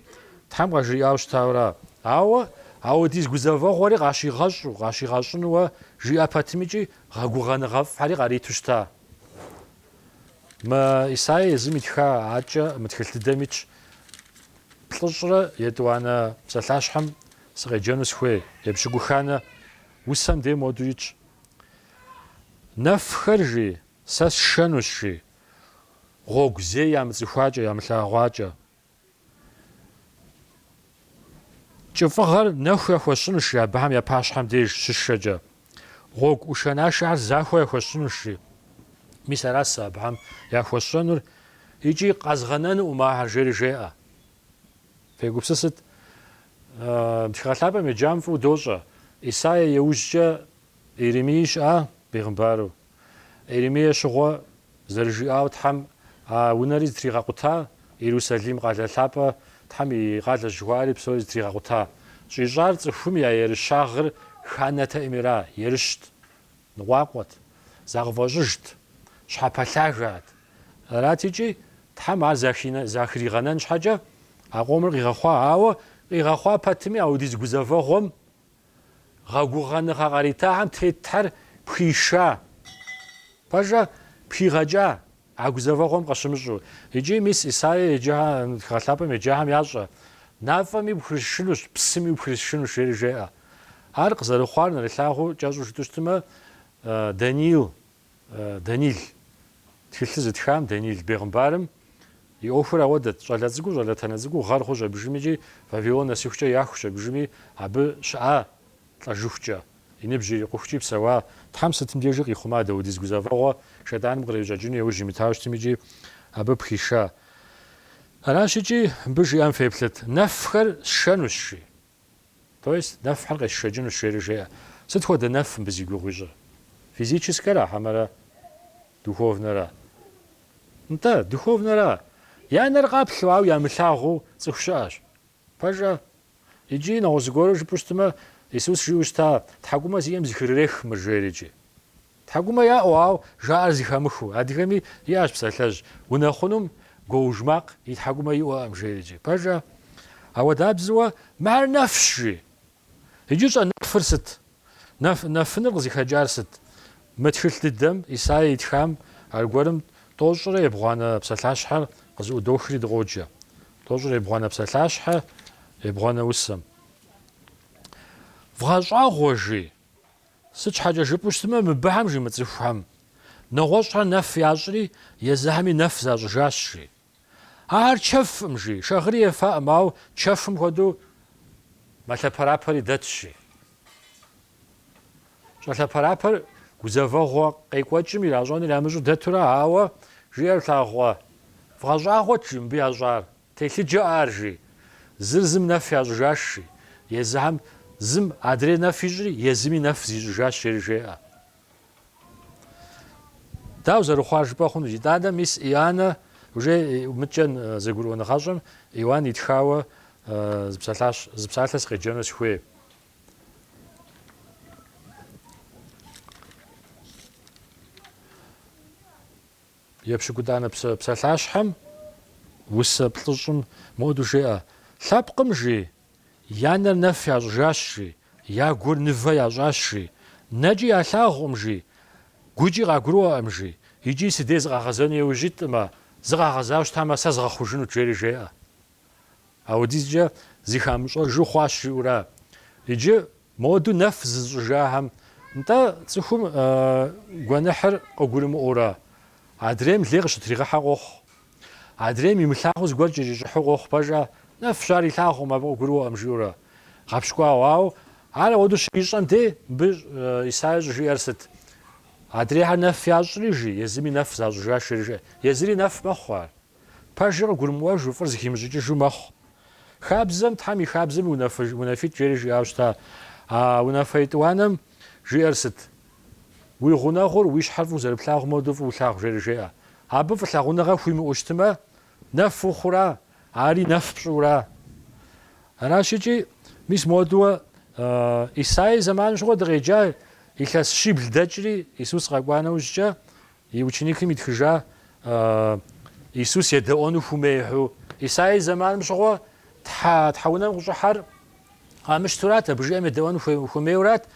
Тхьэм къажриӏауэ щытауэра? Ауэ, ауэдиз гузэвэгъуэри къащигъэщӏу, къащигъэщӏынуэ жиӏэ пэтым икӏи, гъэгугъэныгъэфӏхьэри къариту щыта. Мы Исаия езым итха акӏэ мы тхылъ дыдэм итщ, Плӏыщӏрэ етӏуанэ псалъащхьэм сыкъеджэну сыхуей, епщыкӏуханэ усэм дей моду итщ. Нэфхэр, жи, сэ сшэнущ, жи, гъуэгу зей ямыцӏыхуакӏэ, ямылъагъуакӏэ. Кӏыфӏыгъэр нэху яхуэсщӏынущ, жи, абыхэм я пащхьэм деж щышэкӏэ, гъуэгу ӏушэнашэхьэр захуэ яхуэсщӏынущ, жи, мис аращ сэ абыхэм яхуэсщӏэнур икӏи къэзгъэнэнум ахэр, жери жеӏэ. Фегупсысыт, Тхыгъэ Лъапӏэм еджам фӏыуэ дощӏэ, Исаия и ужькӏэ Иеремии щыӏа бегъымбару? Иеремие щыгъуэ зэрыжиӏауэ Тхьэм а унэри зытригъэкъута, Иерусалим къалэ лъапӏэ Тхьэм и къалэщ жыхуаӏэри псори зытригъэкъута. Щӏищӏар цӏыхум я ерыщагъыр ханэтэӏыми ара, ерыщт, ныкъуакъуэт, закъыфӏэщӏыжт, щхьэпэлъагэт. Арат икӏи, Тхьэм ар захригъэнэн щхьэкӏэ а къомыр къигъэхъуа, ауэ къигъэхъуа пэтми аудиз гузэвэгъуэм, Гъэгугъэныгъэ къаритахэм тетхьэр пхиша, пэжӏэ, пхигъэкӏа, а гузэвэгъуэм къыщымыщӏу. Иджы мис Исаия еджэхэм, Тхыгъэ Лъапӏэм еджахэм ящӏэ, Нафӏэми упхрисшынущ, псыми упхрисшынущ, жери жеӏэ. Ар къызэрыхъуар нэрылъагъуу кӏэщӏу жытӏэу щытмэ, Даниил Данил тхылъыр зытхам Данил бегъымбарым и ӏуэхур ауэдэт, щӏалэ цӏыкӏуу, щӏалэтэнэ цӏыкӏуу, гъэр хъущ абыжыми икӏи Вавилон нэсыхукӏэ яхущ абыжыми, абы щыӏа лӏэжыхукӏэ, и ныбжь ирикъухукӏи псэуа. Тхьэм сытым дежи къихъума, даудиз гузэвэгъуэ Шейтӏаным кърищӏэкӏыну яужь имытау щытми икӏи абы пхиша. Аращ икӏи мыбы жиӏэм феплъыт, Нэфхэр сшэнущ, жи. То есть нэфхэр къесшэкӏынущ, жери жеӏэ. Сыт хуэдэ нэф мыбы зи гугъу ищӏыр? Физическэра хьэмэрэ духовнэра? Нтӏэ, духовнэра. Я нэр къаплъэу, ауэ ямылъагъуу цӏыху щыӏэщ. Пэжӏэ? Иджы нэгъуэщӏ зыгуэру жыпӏэу щытмэ, Исус жиӏэу щыта, Тхьэкӏумэ зиӏэм зыхырырех мыр, жери икӏи. Тхьэкӏумэ яӏэу, ауэ жаӏэр зыхэмыхыу. Адыгэми иӏэщ псалъэжь, Унэхъунум гуоуж макъ и тхьэкӏумэ иӏуэӏым, жери икӏи. Пэжӏэ? Ауэдабзэуэ, Мыхьэр нэфщ! жи. Иджы щӏэ нэфыр сыт? Нэф, нэфыныр къызыхэкӏар сыт? Мы тхылъ дыдэм, Исае итхам, аргуэрым Тӏощӏрэ ебгъуанэ псалъащхьэр къызыӏудохри дыкъоджэ. Тӏощӏрэ ебгъуанэ псалъащхьэ, ебгъуанэ усэм. Вгъэщӏагъуэ, жи. Сыт щхьэкӏэ жыпӏэу щытмэ, мыбыхэм, жи, мы цӏыхухэм нэгъуэщӏхэр нэф ящӏри, езыхэми нэф защӏыжащ, жи. Ахэр чэфӏым, жи, шагъыри ефаӏым, ауэ чэфым хуэдэу мэлъэпэрапэри дэтщ, жи. Щӏэлъэпэрапэр гузэвэгъуэ къекӏуэкӏым иращӏэныр ямыщӏу дэтурэ, ауэ, жиӏэр плъагъуэ, вгъэщӏагъуэт, жи, мыбы ящӏар. Телъыджэ ар, жи. Зыр зым нэф ящӏыжащ, жи. Езыхэм зым адрей нэф ищӏри, езыми нэф зищӏыжащ, жери жеӏэ. Дауэ зэрыхъуар жыпӏэ хъуну? Итӏанэ мис Ианэ уже мыдкӏэ зэгурыӏуэныгъэщӏэм Иоанн итхауэ зы псалъащ, зы псалъэ сыкъеджэну сыхуей. Епщыкӏутӏанэ псалъащхьэм усэ плӏыщӏым моуэдэу жеӏэ, Лъэпкъым, жи, я нэр нэф ящӏыжащ, жи, я гур нывэ ящӏащ, жи, нэкӏи ялъагъукъым, жи, гукӏи къагурыӏуэкъым, жи, икӏи сыдей зыкъагъэзэну иужь итымэ, зыкъагъэзауэ щытамэ, сэ згъэхъужынут, жери жеӏэ. Ауэдизкӏэ зыхамыщӏэжу хъуащ жиӏэура? Иджы моду нэф зызыщӏыжахэм, нтӏэ, цӏыхум гуэныхьыр къыгурымыӏуэура? Адрейм лей къыщытригъэхьэ къохъу. Адрейм имылъагъуу зыгуэр кӏэщӏищӏыхьу къохъу пэжа? Нэфщ ар илъагъукъым, абы къыгурыӏуэкъым жиӏэурэ. Гъэпщкӏуауэ. Ауэ ар ауэду щыищӏэм дей, мыбы Исаия щӏыжиӏэр сыт? Адрейхэр нэф ящӏри, жи, езыми нэф защӏыжащ, жери жеӏэ. Езыри нэф мэхъу ар. Пэжыр къыгурымыӏуэжу, фӏыр зыхимыщӏыкӏыжу мэхъу. Хабзэм, Тхьэм и хабзэми унафитӏ, жери жиӏауэ щыта. А унафэ етӏуанэм жиӏэр сыт? Уи гъунэгъур уи щхьэр фӏыуэ зэрыплъагъу модэу фӏыуэ лъагъу, жери жеӏэ. Абы фӏылъагъуныгъэ хуимыӏэу щытымэ, нэф ухъура, ари нэф пщӏыура? Аращ икӏи, мис моду Исаи зэманым щыгъуэ дыкъеджа, илъэс щибл дэкӏри, Исус къэкӏуа нэужькӏэ, И ученикым итхыжа Исус едэӏуэну хумейхьу? Исаий зэманым щыгъуэ Тхьэ Тхьэунэм къыщӏыхьэр къамыщтурат, абы жиӏэм едэӏуэну хуэмейурат.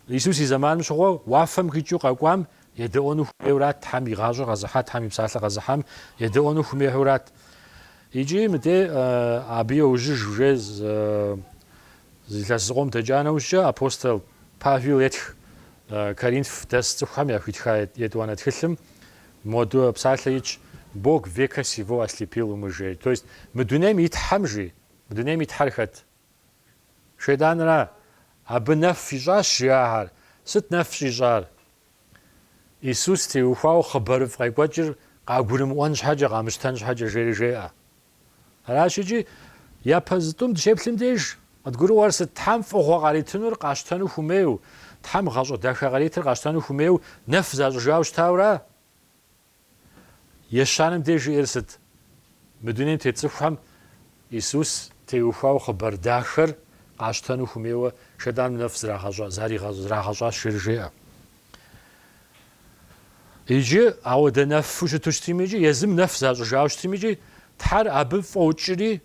Исус и зэманым щыгъуэ уафэм къикӏыу къэкӏуам едэӏуэну хумейурат, Тхьэм и гъащӏэр къэзыхьа, Тхьэм и псалъэ къэзыхьам едэӏуэну хумейхьурат. Икӏи мыдей абы иужь уже зы илъэс зыкъом дэкӏа нэужькӏэ апостол Павел етх Коринф дэс цӏыхухэм яхуитха етӏуанэ тхылъым моду псалъэ итщ, Бог века сего ослепил умы жери. То есть мы дунейм и Тхьэм жи? Мы дунейм и Тхьэр хэт? Шейтӏанра? Абы нэф ищӏащ жи ахэр. Сыт нэф щӏищӏар? Исус теухуауэ хъыбарыфӏ къекӏуэкӏыр къагурымыӏуэн щхьэкӏэ, къамыщтэн щхьэкӏэ жери жеӏэ. Аращ икӏи, япэ зы тӏум дыщеплъым деж, къыдгурыӏуэр сыт? Тхьэм фӏыгъуэ къаритынур къащтэну хумейуэ, Тхьэм гъащӏэ дахэ къаритыр къащтэну хумейуэ нэф защӏыжауэ щытауэра? Ещанэм деж жиӏэр сыт? Мы дунейм тет цӏыхухэм Исус теухуауэ хъыбар дахэр къащтэну хумейуэ Шейтӏаным нэф зрагъэщӏащ жери жеӏэ. Иджы, ауэдэу нэфу щыту щытми икӏи, езым нэф защӏыжауэ щытми икӏи, Тхьэр абы фӏокӏри,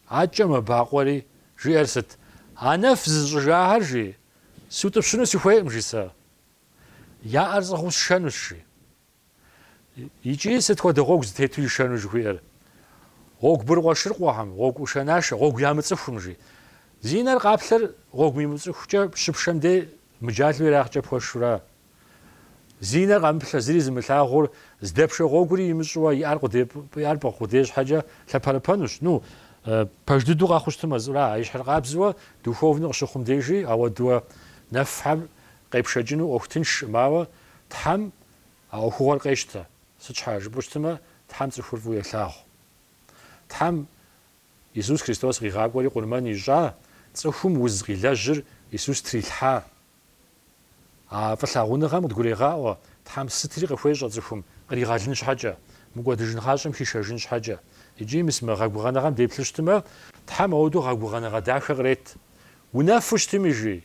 акӏэ мэбакъуэри, жиӏэр сыт? А нэф зызыщӏыжахэр, жи, сутӏыпщыну сыхуейкъым, жи, сэ. Я ӏэр сӏыгъыу сшэнущ, жи. Икӏи сыт хуэдэ гъуэгу зытету ишэну жыхуиӏэр? Гъуэгу быркъуэшыркъуэхэм, гъуэгу ӏушэнашэ, гъуэгу ямыцӏыхум, жи. Зи нэр къаплъэр гъуэгу имыцӏыхукӏэ щыпшэм дей мыджалу ерагъкӏэ пхуэшура? Зи нэр къэмыплъэ, зыри зымылъагъур, здэпшэ гъуэгури имыщӏыуэ и ӏэр пӏыгъ къудей щхьэкӏэ лъэпэрыпэнущ. Ну, пэж дыдэу къэхъуу щытым мэзӏура? А ещхьыркъабзэуэ, духовнэу къыщыхъум дежи, ауэдууэ нэфхьэр къепшэкӏыну ӏуэху тыншкъым, ауэ Тхьэм А ӏуэхугъуэр къещтэ. Сыт щхьэ жыпӏэу щытмэ, Тхьэм цӏыхур фӏыуэ елъагъу. Тхьэм Исус Христос къигъакӏуэри къурмэн ищӏа, цӏыхум уз къилэжьыр Исус трилъхьа. А фӏылъагъуныгъэм къыдгурегъаӏуэ, Тхьэм сытри къыхуещӏэ цӏыхум, къригъэлын щхьэкӏэ, мыкӏуэдыжын гъащӏэм хишэжын щхьэкӏэ. Икӏи мис мы гъэгугъэныгъэм деплъу щытмэ, Тхьэм ауэдэу гъэгугъэныгъэ дахэ кърет. Унэфу щытми, жи,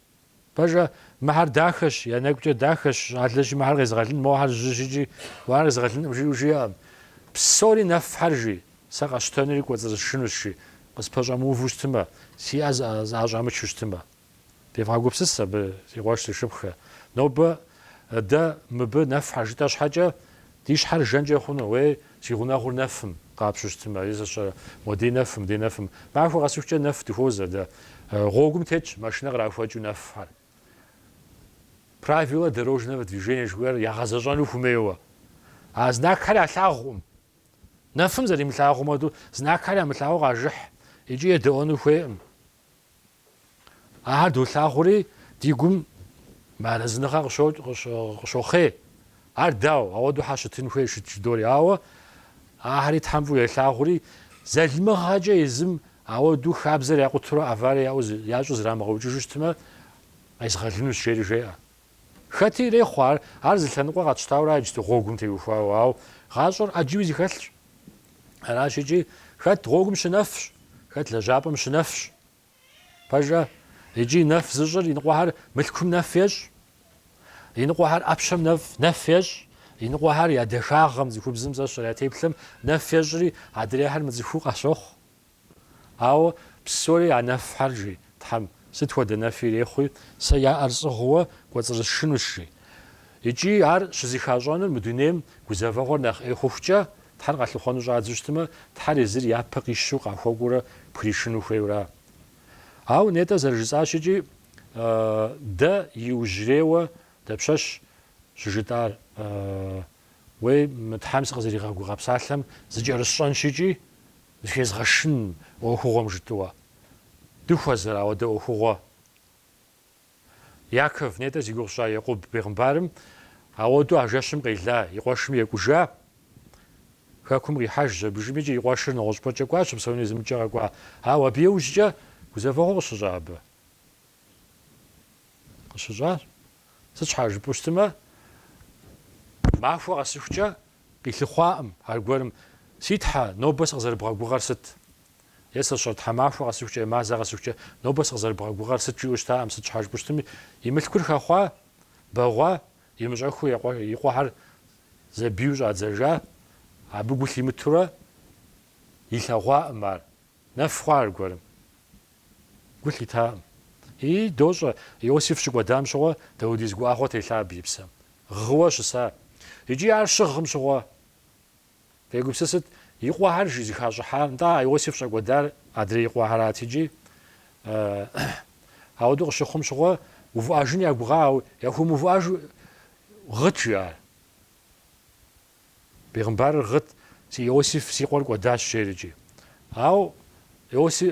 Пэжкъэ, мыхьэр дахэщ, я нэгукӏэ дахэщ, щӏалэщи мыхьэр къезыгъэлын, мохьэр жьыщ икӏи мохьэр къезыгъэлынкъым жиӏэу жиӏэкъым. Псори нэфхьэр, жи, сэ къэсщтэнури кӏуэцӏрысшынущ жи, къыспэщӏэмыуву щытмэ, си ӏэ зыӏэщӏамычу щытмэ. Девгъэгупсыс абы, си къуэш, си шыпхъухэ. Нобэ дэ мыбы нэфхьэр жытӏэ щхьэкӏэ, Ди щхьэр жэнкӏэ хъуну? Уей, си гъунэгъур нэфым къапщу щытым, ари зыщӏэрэ? Уэ, ди нэфым, ди нэфым. Махуэ къэсыхукӏэ нэф дыхуозэ дэ. Гъуэгум тетщ машинэ кърахуэкӏыу нэфхэр. Правила дорожного движения жыхуиӏэр ягъэзэщӏэну хумейуэ. А знакхэр ялъагъукъым. Нэфым зэримылъагъум хуэдэу, знакхэр ямылъагъуу къажыхь икӏи едэӏуэну хуейкъым. Ахэр долъагъури, ди гум мыарэзыныгъэ къыщохъей. Ар дауэ, ауэдэу щхьэ щытын хуей шыт жыдори. Ауэ ахэри Тхьэм фӏыуэ елъагъури, залымыгъэкӏэ езым ауэдэу хабзэр якъутурэ аварие ящӏу зрамыгъэукӏыжу щытмэ, къезгъэлынущ, жери жеӏэ. Хэти ирехъу ар, ар зы лъэныкъуэ къэтщтауэра иджыту гъуэгум теухуауэ, ауэ гъащӏэр ӏэджэу зыхэлъщ. Аращ икӏи, хэт гъуэгум щынэфщ, хэт лэжьапӏэм щынэфщ. Пэжкъэ, икӏи нэф зыщӏыр иныкъуэхэр мылъкум нэф ещӏ, иныкъуэхэр ӏэпщэм нэф ещӏ, иныкъуэхэр я дахагъэм, цӏыхубзым зэщӏыр, я теплъэм нэф ещӏри, адрейхэр мыцӏыхуу къащохъу. Ауэ псори а нэфхьэр, жи Тхьэм, сыт хуэдэ нэфи ирехъуи, сэ я ӏэр сӏыгъыуэ кӏуэцӏрысшынущ, жи. Икӏи ар щызыхащӏэнур мы дунейм гузэвэгъуэр нэхъ ӏей хъухукӏэ, Тхьэр къалъыхъуэну щӏадзу щытмэ, Тхьэр езыр япэ къищу къахуэкӏуурэ пхришыну хуейуэра? Ауэ нетӏэ зэрыжысӏащ икӏи, дэ иужьрейуэ дапщэщ щыжытӏар? Уей, мы Тхьэм сыкъызэригъэгугъа псалъэм зыкӏэрысщӏэнщ икӏи, зыхезгъэшын ӏуэхугъуэм жытӏуэ. Дыхуэзэр ауэдэ ӏуэхугъуэ? Яков нетӏэ зи гугъу сщӏа Екъуб бегъымбарым, ауэду а жэщым къела, и къуэшым екӏужа, хэкум къихьэжщ, абы жиӏэм икӏи и къуэшыр нэгъуэщӏыпӏэкӏэ кӏуа щыпсэуну, езы мыкӏэ къэкӏуа, ауэ абы иужькӏэ гузэвэгъуэ къыщыщӏа абы? Къыщыщӏа. Сыт щхьа жыпӏэу щытымэ, махуэ къэсыхукӏэ къилъыхъуакъым аргуэрым, Си Тхьэ, нобэ сыкъызэрыбгъэгугъэр сыт? Е сэ сщӏэрэ, тхьэмахуэ къэсыхукӏэ е мазэ къэсыхукӏэ, нобэ сыкъызэрыбгъэгугъэр сыт жиӏэу щытакъым, сыт щхьа жыпӏу щытми, и мылъкур хэхъуа, бэгъуа, имыщӏэхыу и къуэхьэр зэбийуэ щӏадзэжа, абы гу лъимытурэ илъэгъуакъым ар, нэф хъуа аргуэрым? Гу лъитакъым. Ии, дощӏэ, Иосиф щыкӏуэдам щыгъуэ даудиз гуӏэгъуэ телъа абы и псэм, гъыуэ щыса. Икӏи ар щыгъым щыгъуэ. Фегупсысыт и къуэхэр жи зыхащӏыхьар, нтӏэ, а Иосиф щӏэкӏуэдар адрей къуэхэрат икӏи. Ауэдэу къыщыхъум щыгъуэ, увыӏэжын ягугъа, ауэ яхуэмыувыӏэж гъыт, жи, ар. Бегъымбарыр гъыт, Си Иосиф, си къуэр кӏуэдащ, жери икӏи. Ауэ Иоси,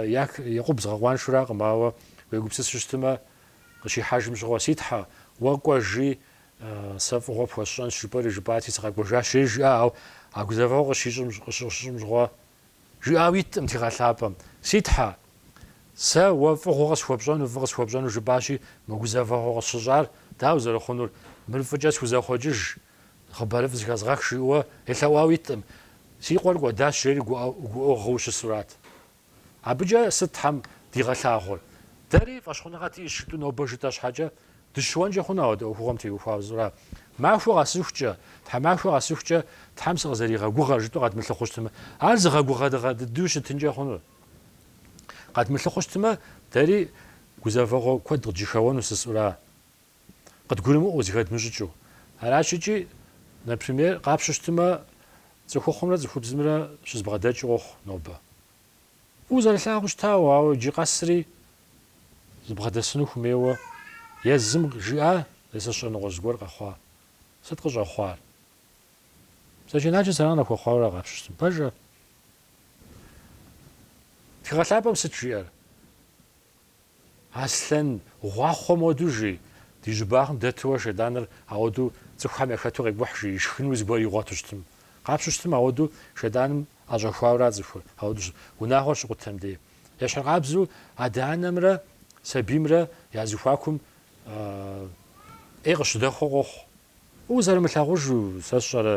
Як, Екъуб згъэкъуаншуракъым, ауэ уегупсысу щытымэ, къыщихьэжым щыгъуэ, Си Тхьэ, уэ кӏуэжи, Сэ фӏыгъуэ пхуэсщӏэнщ жыпӏэри жыпӏати, сыкъэкӏуэжащ, жери жиӏа, ауэ а гузэвэгъуэр къыщыщыщӏым щыгъуэ жиӏауэ иткъым Тхыгъэ лъапӏэм. Си Тхьэ, сэ уэ фӏыгъуэ къысхуэпщӏэну, фӏы къысхуэпщӏэну жыпӏащи, мы гузэвэгъуэ къысщыщӏар дауэ зэрыхъунур, мыр фӏыкӏэ схузэхъуэкӏыж, хъыбарыфӏ зыхэзгъэх, жиӏэуэ елъэӏуауэ иткъым. Си къуэр кӏуэдащ, жери гуӏэу гъыу щысурат. Абыкӏэ сыт Тхьэм дигъэлъагъур? Дэри фӏэщхъуныгъэ диӏэщ жытӏу нобэ жытӏэ щхьэкӏэ, дыщыуэнкӏэ хъуну ауэдэ ӏуэхугъуэм теухуауэ жысӏура? Махуэ къэсыхукӏэ, тхьэмахуэ къэсыхукӏэ Тхьэм сыкъызэригъэгугъэр жытӏэу къэдмылъыхъуу щытмэ, ар зыгъэгугъэдыгъэ дыдэу щытынкӏэ хъуну? Къэдмылъыхъуу щытмэ, дэри гузэвэгъуэ куэд къыджьэхэуэну жысӏура? къыдгурымыӏуэу, зыхэдмыщӏыкӏыу. Аращ икӏи, например, къапщу щытымэ, цӏыхухъумрэ цӏыхубзымрэ щызэбгъэдэкӏ къохъу нобэ. Фӏыуэ зэрылъагъуу щытауэ, ауэ иджы къэсри зыбгъэдэсыну хумейуэ, езым жиӏа зэзэшыныгъуэ зыгуэр къэхъуа? Сыт къыщӏэхъуар? Бзаджэнаджэ зэран яхуэхъуауэрэ къапщу щытым, пэжа? Тхыгъэ лъапӏэм сыт жиӏэр? Аслъэн гъуахъуэм хуэду жи, ди жьыбагъым дэтурэ Шейтӏаныр ауэду цӏыхухэм яхэту къекӏухь жи, ишхыну зыгуэр игъуэту щытым. Къапщу щытым ауэду Шейтӏаным ӏэщӏэхуауэра цӏыхур, ауэду унагъуэр щыкъутэм дей. Ещхьыркъабзэу адэ-анэмрэ сабиймрэ я зыхуакум ӏей къыщыдэхуэ къохъу. Узэрымылъагъужу, сэ сщӏэрэ,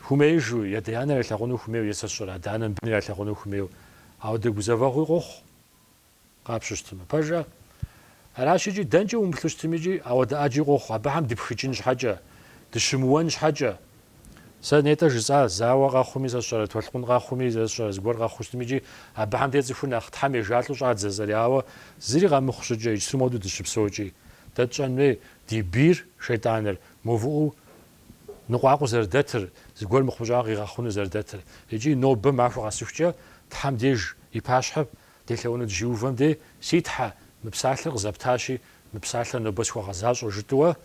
хумеижу, ядэ-янэр ялъагъуну хумейуэ е сэ сщӏэрэ, адэ-анэм быныр ялъагъуну хумейуэ, ауэдэ гузэвэгъуи къохъу. Къапщу щытмэ, пэжӏэ? Аращ икӏи, дэнкӏэ умыплъу щытми икӏи, ауэдэ ӏэджи къохъу, абыхэм дыпхыкӏын щхьэкӏэ, дыщымыуэн щхьэкӏэ. Сэ нетӏэ жысӏа, зауэ къэхъуми, сэ сщӏэрэ, толъкъун къэхъуми, сэ сщӏэрэ, зыгуэр къэхъуу щытми икӏи, абыхэм де цӏыхур нэхъ Тхьэм ежалӏэу щӏадзэ зэри, ауэ зыри къэмыхъу щӏыкӏэ, иджыри моду дыщыпсэукӏи. Дэ тщӏэн хуей, ди бийр, шейтӏаныр, мыувыӏэу ныкъуакъуэу зэрыдэтыр, зыгуэр мыхъумыщӏэ къигъэхъуну зэрыдэтыр. Икӏи нобэ махуэ къэсыхукӏэ, Тхьэм деж и пащхьэ Делъэӏуну дыщиувэм дей, Си Тхьэ, мы псалъэр къызэптащи, мы псалъэр нобэ схуэгъэзащӏэу жытӏуэ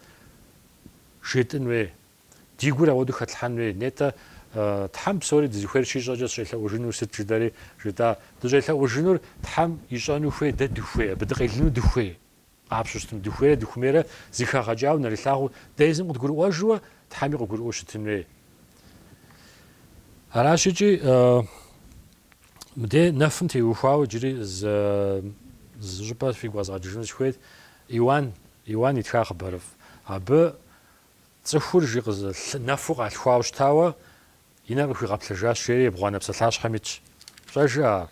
жетӏын уей. Ди гур ауэду хэтлъхьэн уей. Нетӏэ, Тхьэм псори дызыхуейр щищӏэкӏэ сыщӏелъэӏужынур сыт жыдэри жытӏа. Дыщӏелъэӏужынур Тхьэм ищӏэну хуей, дэ дыхуей, абы дыкъелыну дыхуей. Къапщу щытмэ, дыхуейрэ дыхумейрэ зыхэгъэкӏауэ нэрылъагъуу, дэ езым къыдгурыӏуэжуэ, Тхьэми къыгурыӏуэу щытын хуей. Аращ икӏи мыдей нэфым теухуауэ иджыри зы щӏыпӏэ фигу къэзгъэкӏыжыну сыхуейт. Иуан, Иуан итха хъыбарыфӏ. Абы цӏыхур жи къызы нэфу къалъхуауэ щытауэ, И нэр къыхуигъэплъыжащ, жери ебгъуанэ псалъащхьэм итщ. Фщӏэжа.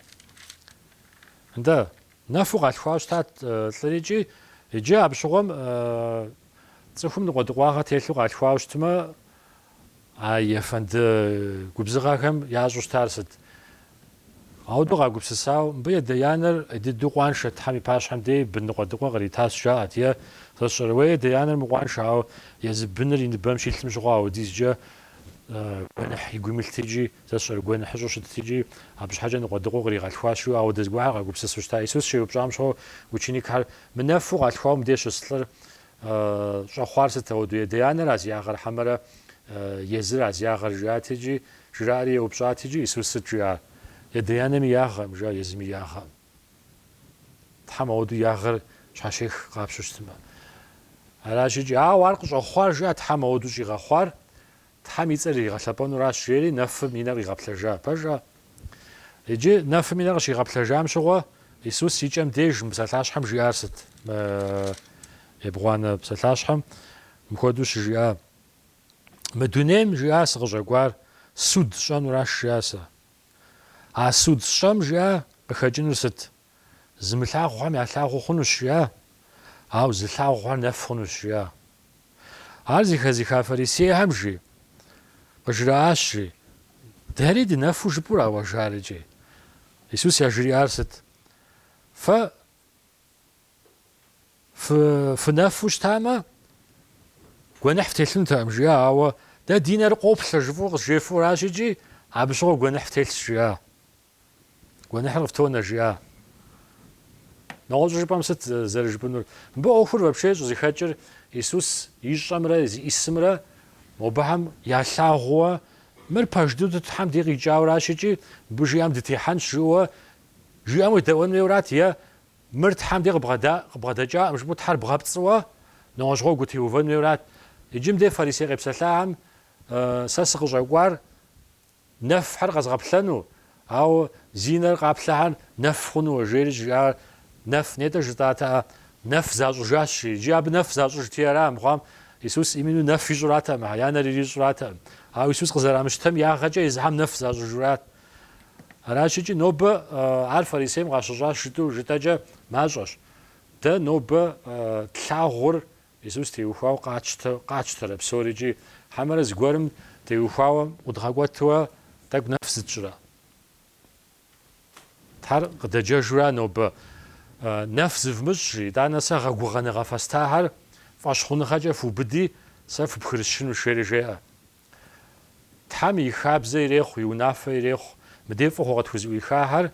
Нтӏэ, нэфу къалъхуауэ щытат лӏыр икӏи. Иджы абы щыгъуэм цӏыхум ныкъуэдыкъуагъэ телъу къалъхуауэ щытмэ, а ефэнды губзыгъэхэм ящӏу щытар сыт? Ауэдэу къагупсысауэ, мыбы ядэ-янэр дыдэу къуаншэт, Тхьэм и пащхьэм дей бын ныкъуэдыкъуэ къритащ, жаӏэрт, е, сэ сщӏэрэ, ядэ-янэр мыкъуаншэ, ауэ езы быныр и ныбэм щилъым щыгъуэ ауэдизкӏэ гуэныхь и гум илът икӏи сэ сщӏэрэ гуэныхьыщӏу щытт икӏи абы щхьэкӏэ ныкъуэдыкъуэу къригъэлъхуащ, жиӏэу ауэдэ зыгуэрхэр къагупсысу щыта. Исус щеупщӏам щыгъуэ ученикхэр, Мы нэфу къалъхуауэ мыбдеж щыс лӏыр Щӏэхъуар сыт, ауэду? Ядэ-янэра зи ягъэр хьэмэрэ езыра зи ягъэр? жаӏат икӏи, жраӏэри еупщӏат икӏи, Исус сыт жиӏар? Ядэ-янэми ягъэм, жа езыми ягъэм? Тхьэм ауэду ягъэр щхьэщех къапщу щытмэ. Аращ икӏи, ауэ ар къыщӏэхъуар, жиӏа, Тхьэм ауэду щӏигъэхъуар, Тхьэм и цӏэр иригъэлъэпӏэнуращ, жери нэфым и нэр къигъэплъэжа. Пэжӏэ? Иджы нэфым и нэр къыщигъэплъэжам щыгъуэ Исус и кӏэм деж мы псалъащхьэм жиӏар сыт? Мы ебгъуанэ псалъащхьэм мыхуэдэу щыжиӏа? Мы дунейм, жиӏа, сыкъыщӏэкӏуар суд сщӏэнуращ, жиӏа сэ. А суд сщӏэм, жиӏа, къыхэкӏынур сыт? Зымылъагъухэм ялъагъуу хъунущ, жиӏа? Ауэ зылъагъухэр нэф хъунущ, жиӏа? Ар зыхэзыха фарисейхэм жи, къыжраӏащ, жи, Дэри дынэфу жыпӏурауэ жари икӏи? Исус яжриӏар сыт? Фэ фынэфу щытамэ, гуэныхь фтелъынутэӏым, жиӏа, ауэ Дэ ди нэр къоплъэ жыфӏу къызжефӏуращ икӏи, абы щыгъуэ гуэныхь фтелъщ, жиӏа? Гуэныхьыр къыфтонэ, жиӏа. Нэгъуэщӏу жыпӏэм сыт зэрыжыпӏэнур? Мыбы ӏуэхур вообще щӏызэхэкӏыр Исус ищӏэмрэ зиӏисымрэ мобыхьэм ялъагъууэ, мыр пэж дыдэу Тхьэм де къикӏауращ икӏи мыбы жиӏам дытехьэнщ жыӏэуэ жиӏэм уедэӏуэн хуейуэрат е мыр Тхьэм дей къыбгъэдэкӏакъым жыпӏэу Тхьэр бгъэпцӏыуэ нэгъуэщӏ гъуэгу утеувэн хуейуэрат. Иджы мыдей фарисей къепсэлъахьэм сэ сыкъыщӏэкӏуар нэфхьэр къэзгъэплъэну, ауэ зи нэр къаплъэхьэр нэф хъунуэ, жери жиӏар нэф, нетӏэ жытӏатэӏэ, нэф защӏыжащ, жи. Иджы абы нэф защӏыжти ара мыхъуам, Исус именно нэф ищӏратэкъым, я нэр ирищӏратэкъым. Ауэ Исус къызэрамыщтэм ягъэкӏэ езыхьэм нэф защӏыжурат. Аращ икӏи нобэ ар фарисейм къащыщӏащ жытӏу жытӏэкӏэ мащӏэщ. Дэ нобэ тлъагъур Иисус теухуауэ къатщтэрэ псори икӏи хьэмэрэ зыгуэрым теухуауэ ӏудгъэкӏуэтуэ тӏэкӏу нэф зытщӏрэ? Тхьэр къыдэджэжура нобэ нэф зывмыщӏ, жи, итӏанэ сэ гъэгугъэныгъэ фэстахьэр фӏэщхъуныгъэкӏэ фыубыди, сэ фыпхырысшынущ, жери жеӏэ. Тхьэм и хабзэ ирехъу, и унафэ ирехъу. Мыдей фӏыгъуэ къытхузэӏуихахьэр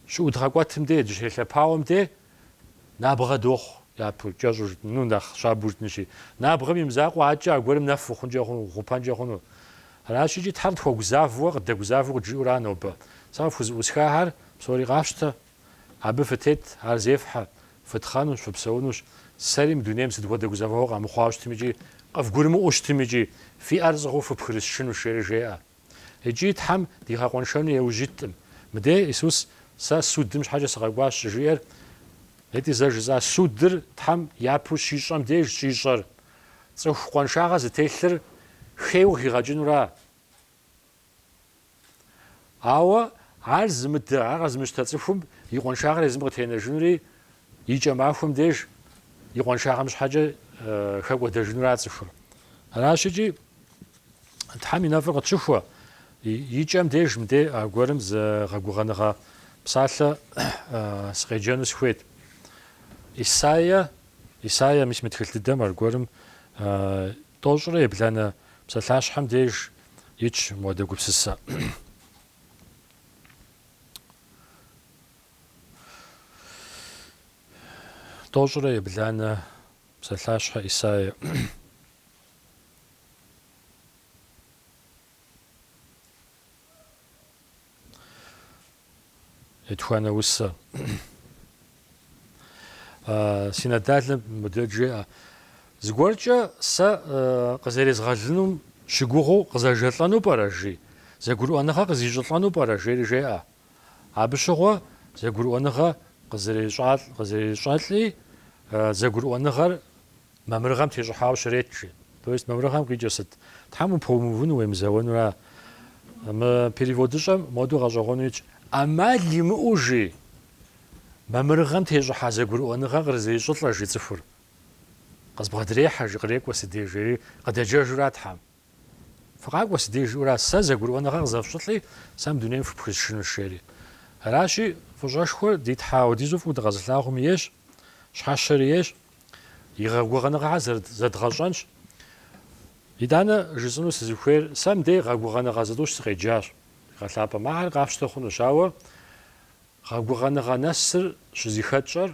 щыӏудгъэкӏуэтым де, дыщелъэпауэм де набгъэ дохъу, япэу кӏэщӏу, ну, нэхъ щабэу жытӏынщи. Набгъэм и мызакъуэ адэкӏэ аргуэрым нэфу хъункӏэ хъуну, хъупэнкӏэ хъуну. Аращи, икӏи Тхьэр тхуэгузавэуэ, къыддэгузавэу къыджиӏура нобэ? Сэ къыфхузэӏусхахьэр псори къащтэ. Абы фытет, ар зефхьэ, фытхъэнущ, фыпсэунущ. Сэри мы дунейм сыт хуэдэ гузэвэгъуэ къэмыхъуауэ щытым икӏи къывгурымыӏуэу щытым икӏи фи ӏэр зӏыгъуу фыпхырысшынущ, жери жеӏэ. Икӏи Тхьэм дигъэкъуэншэну еужь иткъым. Мыдей, Исус, сэ судым щхьэкӏэ сыкъэкӏуащ щыжиӏэр, нетӏи зэ жысӏа судыр Тхьэм япэу щищӏэм деж щӏищӏэр, цӏыху къуаншагъэ зытелъыр хейуэ къыхигъэкӏынура? Ауэ ар зымыдэ, ар къэзмыщтэ цӏыхум и къуаншагъэр езым къытенэжынури и кӏэ махуэм деж и къуаншагъэм щхьэкӏэ хэкӏуэдэжынура цӏыхур. Аращ икӏи Тхьэм и нэфӏыр къытщыхуэ, и кӏэм деж мыдей аргуэрым зы гъэгугъэныгъэ псалъэ сыкъеджэну сыхуейт. Исаия, Исаия, мис мы тхылъ дыдэм аргуэрым Тӏощӏрэ ебланэ псалъащхьэм деж итщ мыхуэдэ гупсысэ. Тӏощӏрэ ебланэ псалъащхьэ Исаия. Етхуанэ усэ. Синодалым мыдэ жеӏэ. Зыгуэркӏэ сэ къызэрезгъэлынум щыгугъыу къызэжэлӏэну пӏэрэ, жи, зэгурыӏуэныгъэ къызищӏылӏэну пӏэрэ, жери жеӏэ. Абы щыгъуэ зэгурыӏуэныгъэ къызэрещӏалӏ, къызэрещӏэлӏи, зэгурыӏуэныгъэр Мамырыгъэм тещӏыхьауэ щрет, жи. То есть мамырыгъэм къикӏыр сыт? Тхьэм упэумыувыну уемызэуэнура? Мы переводыщӏэм модэу гъэщӏэгъуэну итщ, ӏэмал имыӏэу, жи, мамырыгъэм тещӏыхьа зэгурыӏуэныгъэ кърызищӏылӏэ, жи, цӏыхур. Къызбгъэдрехьэ, жи, кърекӏуэ си деж, жери къыдэджэжура Тхьэм. Фыкъакӏуэ си деж, жиӏэура, сэ зэгурыӏуэныгъэ къызэфщӏылӏи, сэ мы дунейм фыпхысшынущ, жери. Аращи, фӏыщӏэшхуэр ди Тхьэ апхуэдизу фӏыуэ дыкъэзылъагъум ейщ, щхьэщэри ейщ, И гъэгугъэныгъэхэр зэдгъэщӏэнщ. Итӏанэ жысӏэну сызыхуейр, сэ мыбдеж гъэгугъэныгъэ зытӏущ сыкъеджащ. Тхыгъэ лъапӏэм ахэр къафщтэ хъунущ, ауэ гъэгугъэныгъэ нэсыр щызыхэтщӏэр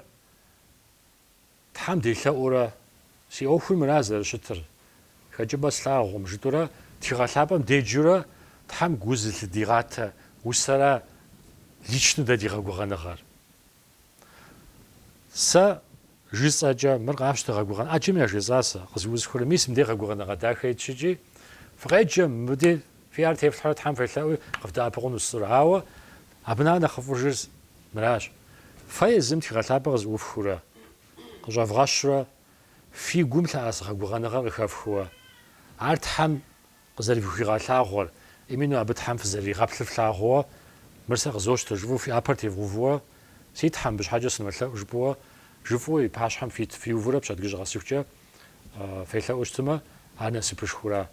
Тхьэм делъэӏуурэ, си ӏуэхур мыра зэрыщытыр, хэкӏыпӏэ слъагъум, жытӏурэ Тхыгъэ лъапӏэм деджурэ Тхьэм гу зылъыдигъатэ усэра личнэу дэ ди гъэгугъэныгъэр. Сэ жысӏэкӏэ, мыр къащтэ, гъэгугъэн ӏэджэм яжесӏа сэ, къызыӏусхыурэ мис мыдей гъэгугъэныгъэ дахэ итщ икӏи, фыкъеджэ, мыбы фи ӏэр тефлъхьэ, Тхьэм фелъэӏуи къывдэӏэпыкъуну соцӏыхур, ауэ абы нэхъ нэхъыфӏыжыр мыращ, фэ езым Тхыгъэ лъапӏэ къызыӏуфхыурэ, къыщӏэвгъэщурэ, фи гум лъэӏэс гъэгугъэныгъэр къыхэфхыуэ, ар Тхьэм Къызэрыфхуигъэлъагъуэр, именно абы Тхьэм фызэрыригъэплъыр флъагъууэ, мыр сэ къызощтэ, жыфӏэу фи ӏэпэр тевгъувууэ, Си Тхьэ, мыбы щхьэкӏэ сынолъэӏу, жыпӏэуэ, жыфӏэу и пащхьэм фиувурэ пщэдджыжь къэсыхукӏэ фелъэӏуу щытымэ, ар насыпышхура?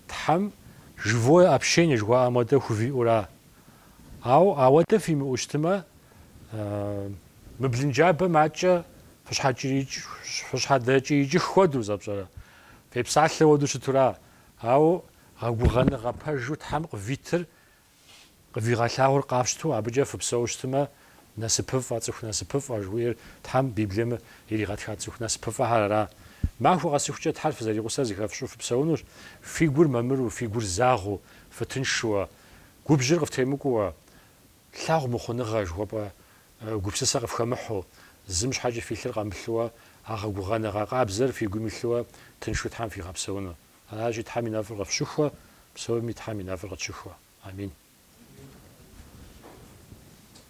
Тхьэм Живое общение жыхуаӏэм хуэдэ хувиӏура? Ауэ ауэдэ фимыӏэу щытымэ, мы блынджабэм адкӏэ фыщхьэдэкӏиикӏ хуэдэу зэпщӏэрэ? Фепсалъэ хуэдэу щытура? Ауэ гъэгугъэныгъэ пэжу Тхьэм къывитыр къывигъэлъагъур къафщту абыкӏэ фыпсэу щытмэ, насыпыфӏэ, цӏыху насыпыфӏэ жыхуиӏэр Тхьэм Библием иригъэтха цӏыху насыпыфӏэхэр ара? Махуэ къэсыхукӏэ Тхьэр фызэригъусэр зыхэфщӏу фыпсэунущ, фи гур мамыру, фи гур загъэу, фытыншшуэ, губжьыр къыфтемыкӏууэ. Лъагъумыхъуныгъэ жыхуэпӏэ Гупсысэ къыфхэмыхьу, зым щхьэкӏэ фи лъыр къэмылъыуэ, а гъэгугъэныгъэ къабзэр фи гум илъыуэ тыншу Тхьэм фигъэпсэуну. Аращи, Тхьэм и нэфӏыр къыфщыхуэ, псоми Тхьэм и нэфӏыр къытщыхуэ. Амин.